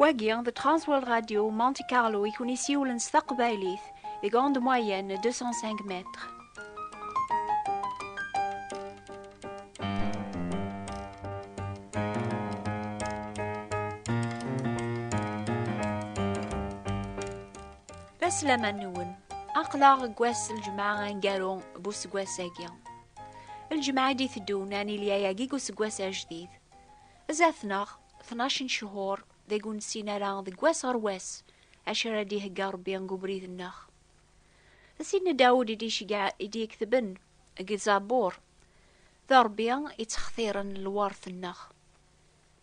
Wagi, the Transworld Radio Monte Carlo i kun isiwlen s taqbaylit deg onde moyenne 205 mètres. Aslaman-nwen, aqlaɣ deg wass lǧemɛa angaru n useggas-agi. Lǧemɛa i d-iteddun anilya-agi deg useggas ajdid. Zdat-neɣ, 12 n ccuhur, deg ur nessin ara deg wass ɣer wass, acu ara d-ihegga Rebbi deg ubrid-nneɣ. D tin Dawed i d-yeketben deg Zabur, D Ṛebbi i ttextiren lwert-nneɣ.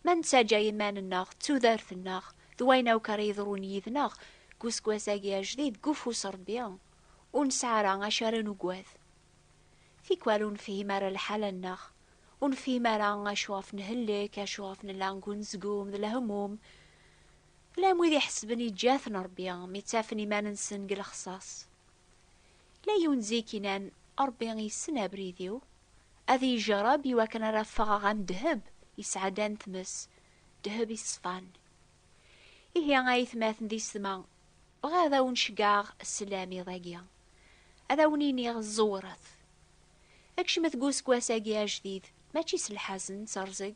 Ma nettaǧǧa iman-nneɣ d tudert-nneɣ d wayen akk ara yeḍrun yid-neɣ deg useggas-agi ajdid deg ufus n Ṛebbi, ur nesɛi ara acu ara nugad. Tikwal ur nefhim ara lḥala-nneɣ, ur nefhim ara acu ɣef nhellek, acu ɣef nella deg unezgum d lehmum. Llan wid iḥesben yeǧǧa-ten Ṛebbi mi ttafen iman-nsen deg lexṣaṣ. Yella yiwen zik inan, Ṛebbi yessen abrid-iw, ad iyi-jṛeb i wakken ara ffɣeɣ am ddheb yesɛeddan tmes, ddheb iṣfan. Ihi a itmaten d isetma, bɣiɣ ad awen-ceggɛeɣ sslam iḍ-agi. Ad awen-iniɣ ẓewret. Kecmet deg useggas-agi ajdid, mačči s lḥazen, s rrẓeg.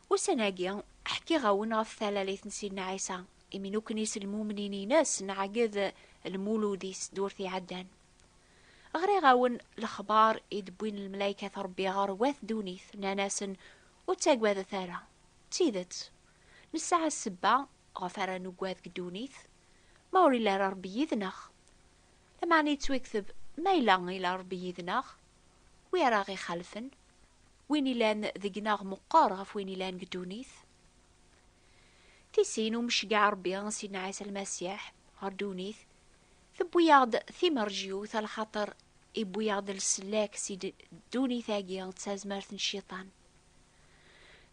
Ussan-agi, ḥkiɣ-awen ɣef talalit n Sidna Ɛisa, imi nukni-s lmumnin-ines nɛegged lmulud-is d ur t-iɛaddan. Ɣriɣ-awen lexbar i d-wwin lmelaykat Rebbi ɣer wat ddunit, nnan-asen, Ur ttagadet ara. D tidet, nesɛa ssebba ɣef ara nuggad deg ddunit, ma ur yelli ara Rebbi yid-neɣ. Lameɛna yettwakteb, Ma yella ila Rebbi yid-neɣ, Wi ara ɣ-ixalfen? Win ilan deg-neɣ meqqer ɣef win ilan deg ddunit. Tisin umi ceggeɛ Rebbi Sidna Ɛisa Lmasiḥ ɣer ddunit, tewwi-aɣ-d timerjyut a lxaṭer iwwi-aɣ-d leslak si ddunit-agi d tazmert n Cciṭan.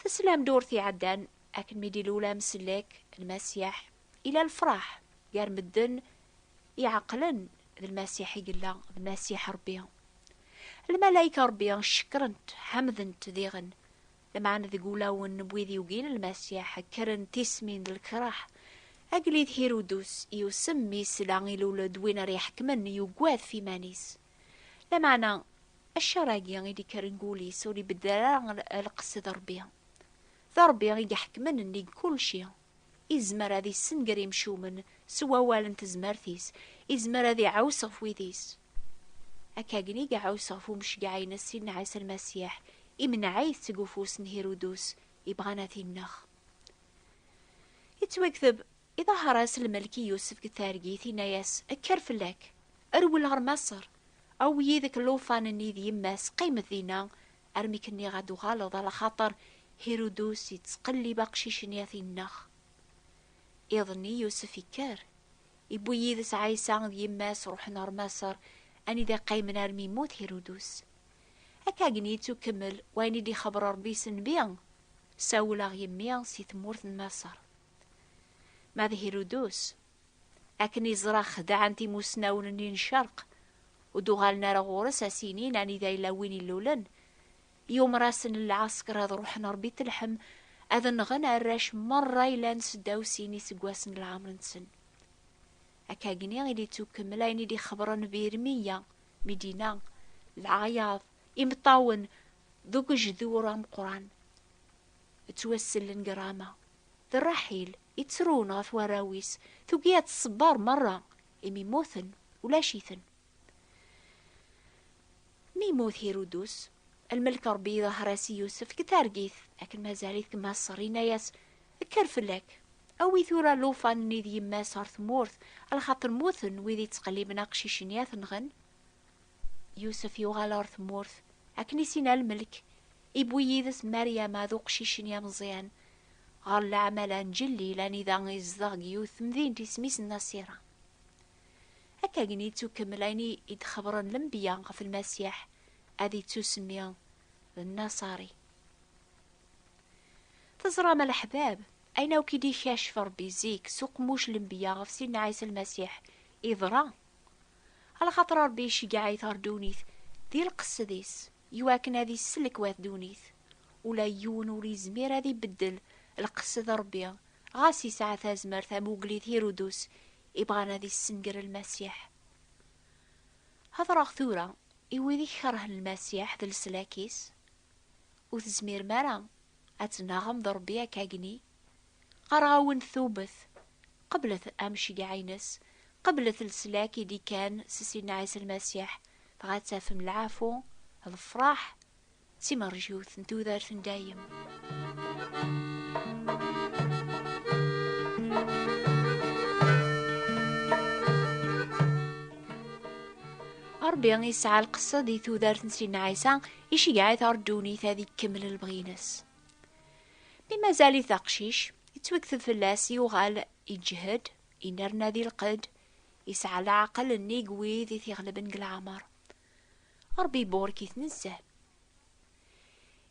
Teslam ddurt iɛeddan akken mi d-ilul amsellek, Lmasiḥ, ila lefraḥ gar medden iɛeqlen D Lmasiḥ i yella, d Masiḥ Ṛebbi. Lmalayek n Ṛebbi cekkren-t, ḥemden-t diɣen. Lameɛna deg wulawen n wid yugin Lmasiḥ, kkren tismin d lekraḥ. Agellid Hirudus yusem mi yesla ilul-d win ara iḥekmen, yugad ɣef iman-is. Lameɛna ccer-agi i d-ikkren deg wul-is ur ibeddel ara lqesd n Ṛebbi. D Ṛebbi i iḥekmen nnig kulci. Izmer ad issenger imcumen s wawal n tezmert-is, izmer ad iɛuss ɣef wid-is. Akkagen i iɛuss ɣef umecgaɛ-ines Sidna Ɛisa Lmasiḥ, imenɛayt seg ufus n Hirudus ibɣan ad t-innex. Yettwakteb, Iḍaher-as lmelk i Yusef deg targit, inna-yas, Kker fell-ak, rwel ɣer Maṣer, awi yid-k llufan-nni d yemma-s, qqimet dinna, Armi k-nniɣ ad d-uɣaleḍ ala xaṭer Hirudus yettqellib aqcic-nni ad t-ineɣ. Iḍ-nni Yusef ikker, iwwi yid-s Ɛisa d yemma-s ruḥen ɣer Maṣer anida qqimen armi yemmut Hirudus. Akkagen yettukemmel wayen i d-ixebber Rebbi s nnbi, Sawel-aɣ yemmi si tmurt n Maṣer. Ma d Hirudus, Akken i ẓraɣ xedɛen-t imusnawen-nni n ccerq, ur d-uɣalen ara ɣur-s a s-inin anida yella win illulen. Yumer-asen lɛesker ad ruḥen ɣer Bitleḥem ad nɣen arrac merra yellan seddaw sin iseggasen n lɛemr-nsen. Akkagni i d-yettukemmel ayen i d-ixebren bi Irmiya, Midina, lɛayaḍ, imeṭṭawen d ugejdur ameqqran. Ttwassellen deg Rama. D Raḥil i ttrun ɣef warraw-is, tugi ad tṣebber merra, imi mmuten, ulac-iten. Mi yemmut Hirudus, lmelk Ṛebbi iḍher-as i Yusef deg targit, akken mazal-it deg Maṣer, yenna-yas, Kker fell-ak, awi tura llufan-nni d yemma-s ɣer tmurt, lxaṭer mmuten wid yettqelliben aqcic-nni ad t-nɣen. Yusef yuɣal ɣer tmurt akken i sina lmelk, iwwi yid-s Maryama d uqcic-nni ameẓyan ɣer leɛmala n Jellil anida izdeɣ deg yiwet temdint isem-is Nasira. Akka gen yettukemmel ayen i d-xebren lembiya ɣef Lmasiḥ ad yettusemmi d Nasari. Teẓram a leḥbab, ayen akk i d-ikacef Rebbi zik s uqemmuc lembiya ɣef Sidna Ɛisa Lmasiḥ, iḍra. Ala xaṭer Ṛebbi iceggeɛ-it ɣer ddunit di lqesd-is, i wakken ad isellek wat ddunit. Ula i yiwen ur izmir ad ibeddel lqesd n Ṛebbi, ɣas yesɛa tazmert am ugellid Hirudus ibɣan ad issenger Lmasiḥ. Heḍṛeɣ tura i wid i ikeṛhen Lmasiḥ d leslak-is, Ur tezmirem ara ad tnnaɣem d Ṛebbi akk agni Qqareɣ-awen-d tawbet, qeblet amceyyeɛ-ines, qeblet leslak i d-ikkan s Sidna Ɛisa Lmasiḥ, dɣa ad tafem lɛafu, lefraḥ d timerjiwt n tudert n dayem. Rebbi yesɛa lqesed i tudert n Sidna Ɛisa, iceyyeɛ-it ar ddunit ad ikemmel lebɣi-ines. Mi mazal-it aqcic, yettwekteb fell-as, yuɣal iǧhed, inerna di lqedd, yesɛa leɛqel nnig wid i t-iɣelben deg leɛmer. Ṛebbi iburek-it nezzeh.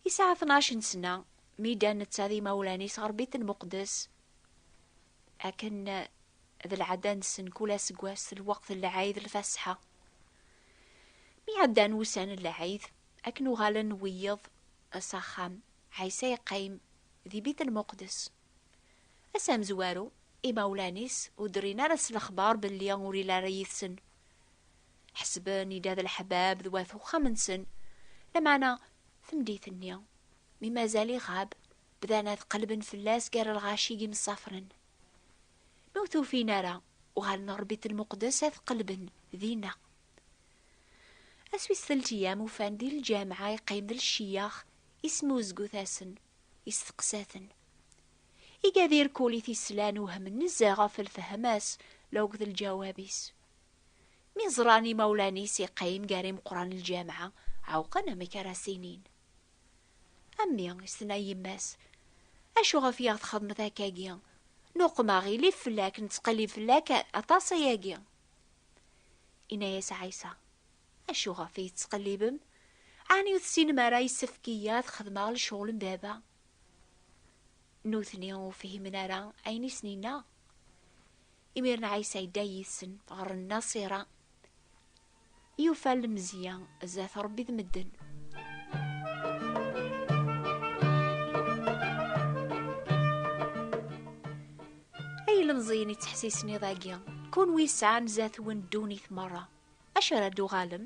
Yesɛa tnac n sna, mi ddan netta d imawlan-is ɣer Bit n Muqdes, akken d lɛada-nsen kul aseggas d lweqt n lɛid n Lfasḥa. Mi ɛeddan wussan n lɛid, akken uɣalen wiyeḍ S axxam, Ɛisa yeqqim di Bit Lmuqdes. Ass amezwaru, imawlan-is ur d-rrin ara s lexbar belli ur yelli ara yid-sen. Ḥesben yella d leḥbab d wat uxxam-nsen, lameɛna tmeddit-nni, mi mazal iɣab, bdan ad qellben fell-as gar lɣaci yemsafren. Mi ur t-ufin ara, uɣalen ɣer Bit Lmuqdes ad qellben dinna. Ass wis telt yam ufan di lǧameɛ yeqqim d lciyax ismuzgut-asen, isteqsa-ten. Iga di rkul i t-islan uhmen nezzeh ɣef lfehma-s la uked lǧawab-is. Mi ẓran imawlan-is yeqqim gar imeqqran n lǧameɛ ɛewqen amek ara as-inin. A mmi, i s-tenna yemma-s, acu ɣef i aɣ-txedmeḍ akka-agi? Nuqem aɣilif fell-ak, nettqellib fell-ak aṭas ayagi. Inna-yas Ɛisa, Acu ɣef i yettqellibem? Ɛni ur tessinem ara yessefk i ad xedmeɣ lecɣel n baba? Nutni ur fhimen ara ayen i sen-inna. Imiren Ɛisa yedda yid-sen ɣer Nnaṣira. Yufa lemzeyya zdat Ṛebbi d medden. Ay ilemẓiyen ittḥessisen iḍ-agi, kunwi yesɛan zdat-wen ddunit meṛṛa, acu ara d-tuɣalem?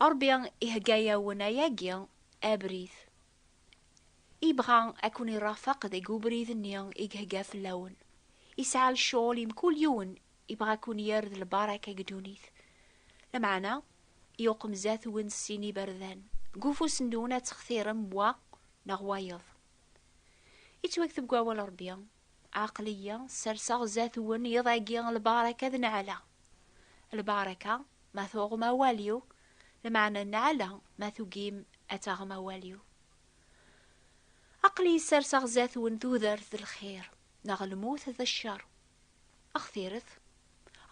Ṛebbi ihegga-yawen ayagi abrid. Ibɣa ad ken-iṛafeq deg ubrid-nni i ihegga fell-awen. Yesɛa lecɣal i mkul yiwen Ibɣa a kun-yerred lbaraka deg ddunit, lameɛna yuqemzat-wen s sin iberdan, deg ufus-nwen ad textirem wa neɣ wayeḍ. Yettwakteb deg wawal Rebbi, Aql-iyi serseɣ zdat-wen iḍ-agi lbaraka d nneɛla. Lbaraka ma tuɣem awal-iw, lameɛna nneɛla ma tugim ad taɣem awal-iw. Aql-iyi serseɣ zdat-wen tudert d lxir, neɣ lmut d ccer, Axtiret,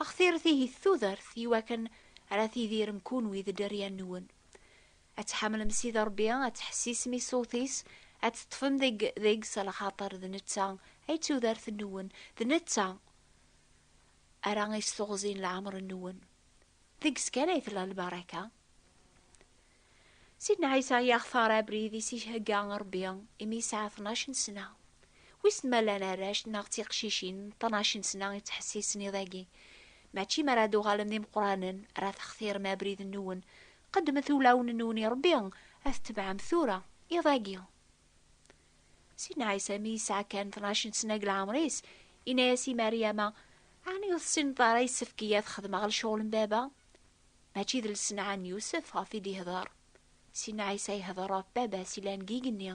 axtiret ihi d tudert i wakken ara tidirem kunwi d dderya-nwen. Ad tḥemmlem Sidi Ṛebbi, ad teḥsisem i ṣṣut-is, ad teṭṭfem deg deg-s lxaṭer d netta ay d tudert-nwen, d netta ara is-teɣzin leɛmeṛ-nwen. Deg-s kan ay tella lbaraka. Sidna Ɛisa yextar abrid i s-ihegga Ṛebbi imi yesɛa tnac n sna. Wissen ma llan arrac neɣ d tiqcicin n tnac n sna i ttḥessisen iḍ-agi? Mačči mi ara d-uɣalen d imeqqranen ara textirem abrid-nwen, qeddmet ulawen-nwen i Ṛebbi, ad t-tebɛem tura, iḍ-agi. Sidna Ɛisa mi yesɛa kan tnac n sna deg leɛmer-is, yenna-as i Maryama, Ɛni ur tessineḍ ara yessefk-iyi ad xedmeɣ lecɣal n Baba? Mačči d lsenɛa n Yusef ɣef i d-ihder. Sin Ɛisa ihder ɣef Baba-s yellan deg igenni,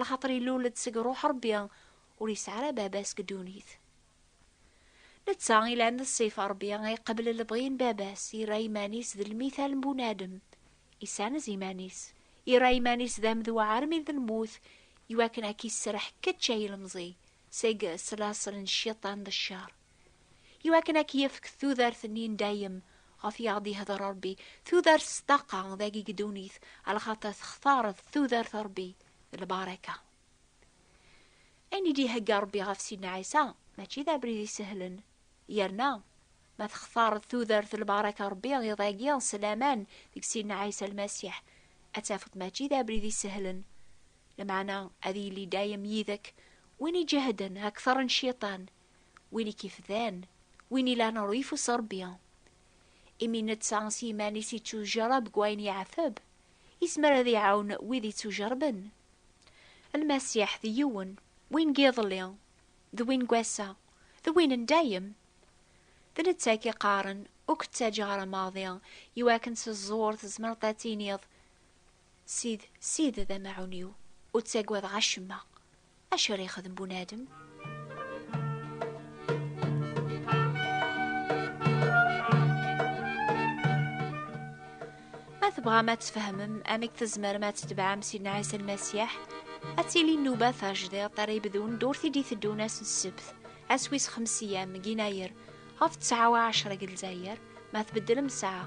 laxaṭer ilul-d seg Ruḥ Ṛebbi, ur yesɛi ara Baba-s deg ddunit. Netta ilan d Ṣṣif n Ṛebbi, iqebbel lebɣi n Baba-s, irra iman-is d lmithal n bunadem, isanez iman-is, irra iman-is d amedwa armi d lmut, iwakken a k-isserreḥ kečč ay ilemẓi, seg ṣṣlasel n Cciṭan d ccer. i wakken ad k-yefk tudert-nni n dayem ɣef i aɣ-d-ihder Rebbi, tudert s ṭṭaqa dagi deg ddunit, a lxaṭer textareḍ tudert Rebbi d lbaraka. Ayen i d-ihegga Rebbi ɣef Sidna Ɛisa mačči d abrid isehlen, yerna ma textareḍ tudert d lbaraka Rebbi iḍ-agi s laman deg Sidna Ɛisa Lmasiḥ, ad tafeḍ mačči d abrid isehlen, lmeɛna ad yili dayem yid-k win iǧehden akter n Cciṭan, win i k-ifdan, win ilan ur ifus Ṛebbi. Imi netta s yiman-is ittujṛab deg wayen yeɛteb, yezmer ad iɛawen wid ittujṛben. Lmasiḥ d yiwen, win n yiḍelli, d win n wass-a, d win n dayem. D netta i k-iqqaren, Ur k-ttaǧǧaɣ ara maḍi, i wakken s ẓẓur tzemreḍ ad tiniḍ, Sid, Sid d amaɛun-iw, ur ttagadeɣ acemma. Acu ara yexdem bunadem? Ma tebɣam ad tfehmem amek tzemrem ad tebɛem Sidna Ɛisa Lmasiḥ, ad tili nnuba tajdiḍt ara yebdun ddurt i d-iteddun ass n ssebt, ass wis xemseyya, Megginayer, ɣef ttɛa u ɛecra deg Lezzayer, ma tbeddlem ssaɛa.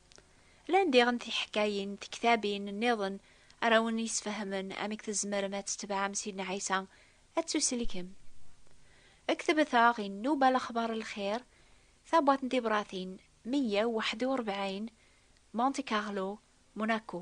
Lan diɣen tiḥkayin, tektabin, nniḍen ara wen yesfehmen amek tzemrem ad tetbeɛem Sidna Ɛisa, ad tuselkem. Ktbet-aɣ i Nnuba Lexbar n Lxir, Tabwaṭ n Tibratin, meyya u waḥed u rebɛin, Monte Carlo, Monaco.